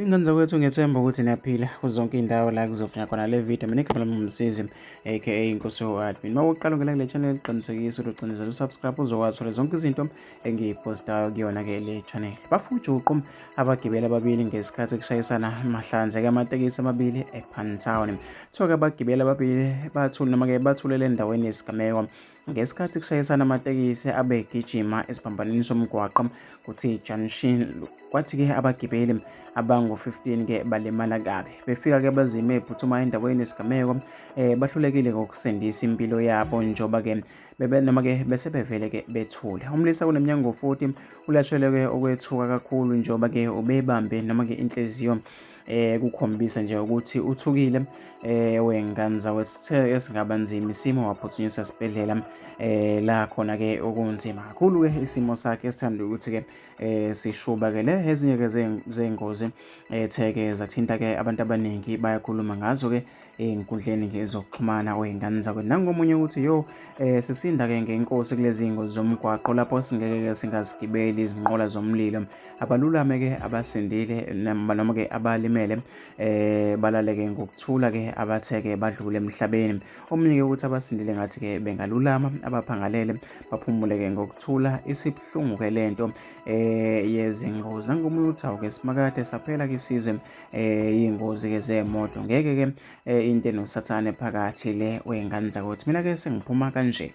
Ingane zakwethu ngethemba ukuthi niyaphila kuzonke indawo la kuzofika khona le video mina ngikhala mumsizi aka inkosi yoadmin uma uqala ungena kule channel qinisekisa ukuthi ucinezela usubscribe uzowathola zonke izinto engiyipostayo kuyona ke le channel bafujuqu abagibeli ababili ngesikhathi kushayisana mahlanze ke amatekisi amabili epantown kuthiwa ke abagibeli ababili bathule noma ke bathulele endaweni yesigameko Ngesikhathi kushayisana amatekisi abegijima esiphambanweni somgwaqo kuthi junction kwathi-ke abagibeli abangu-15-ke balimala kabi befika-ke abazime ephuthuma endaweni yesigameko um eh, bahlulekile ngokusindisa impilo yabo njengoba-ke noma-ke bese bevele-ke bethule umlisa kunemnyango futhi ulasheleke okwethuka kakhulu njengoba-ke ubebambe noma-ke inhliziyo eh kukhombisa nje ukuthi uthukile eh wenganza wesithe esingaba nzima isimo waphuthunyiswa esibhedlela eh la khona ke okunzima kakhulu ke isimo sakhe esithanda ukuthi ke eh sishubakele ezinye ke zeingozi etheke zathinta ke abantu abaningi bayakhuluma ngazo ke ey'nkundleni ke zokuxhumana kwey'ngane zakwe nangomunye ukuthi yo um sisinda-ke ngenkosi kulezi iy'ngozi zomgwaqo lapho singeke-ke singazigibeli izinqola zomlilo abalulame-ke abasindile noma-ke abalimele um balale-ke ngokuthula-ke abathe-ke badlule emhlabeni omunye-ke ukuthi abasindile ngathi-ke bengalulama abaphangalele baphumule-ke ngokuthula isibuhlungu-ke le nto um yezingozi nangomunye ukuthi awu-ke simakade saphela-ke isizwe eh ingozi ke zemoto ngeke ke eh, into enosathane phakathi le wengane zakuthi mina ke sengiphuma kanje